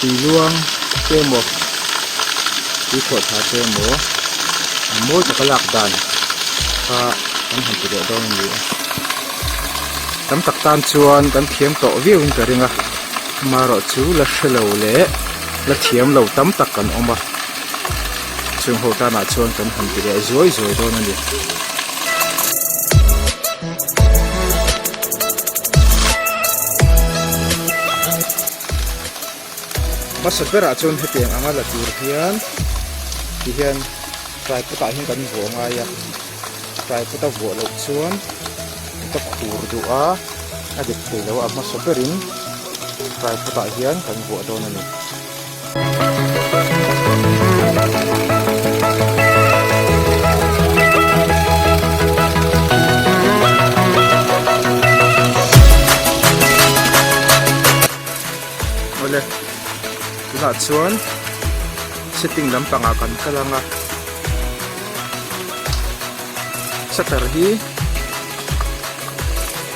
Tui luang te emaw, tui khawhthla te emaw a mawi taka lak dan kha kan han ti leh dawn a ni a. Tam tak tan chuan kan thiam tawh viauin ka ring a, ama erawh chu la hre lo leh la thiam lo tam tak kan awm a, chung ho tanah chuan kan han ti leh zuai zuai dawn a ni. Hmasa berah chuan hetiang anga la tur hian ti hian fry potah hian kan vuah ngai a, fry pot a vuah loh chuan ka khur duh a, a dep theilo a, a hmasa berin fry potah hian kan vuah dawn a ni. Awle tunah chuan setting lampangah kan kal anga shutter hi--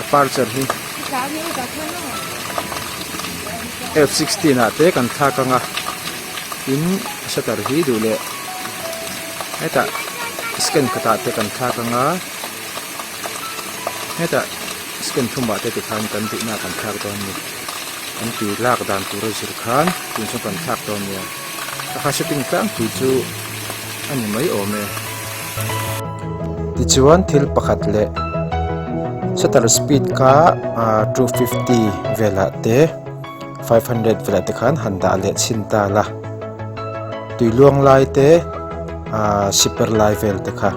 a parcher hi f sixteen ah te kan thlak anga tin a shutter hi duh leh hetah scan khatah te kan thlak anga hetah scan thum ah te ti khan kan duhna kan thlak dawn a ni kan tui lak dan tur a zir khan tun chu kan thlak dawn a ni. Ka kha setting tlangpui chu a ni mai awm e. Tichuan thil pakhat leh shutter speed ka two fifty velah te five hundred velah te khan han dah leh chhin ta la. Tui luang lai te shipper lai vel te kha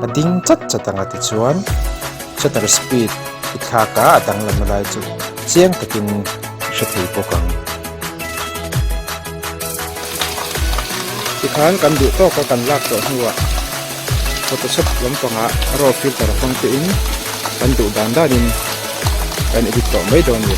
a ding chat chat ang a tichuan shutter speed i thlak a a dang lam a lai chu chiang takin ka hre thei bawk ang. Tikhan kan duh tawk a kan lak tawh hnuah Photoshop lampangah raw filter hmang tein kan duh dan danin kan edit tawh mai dawn a ni.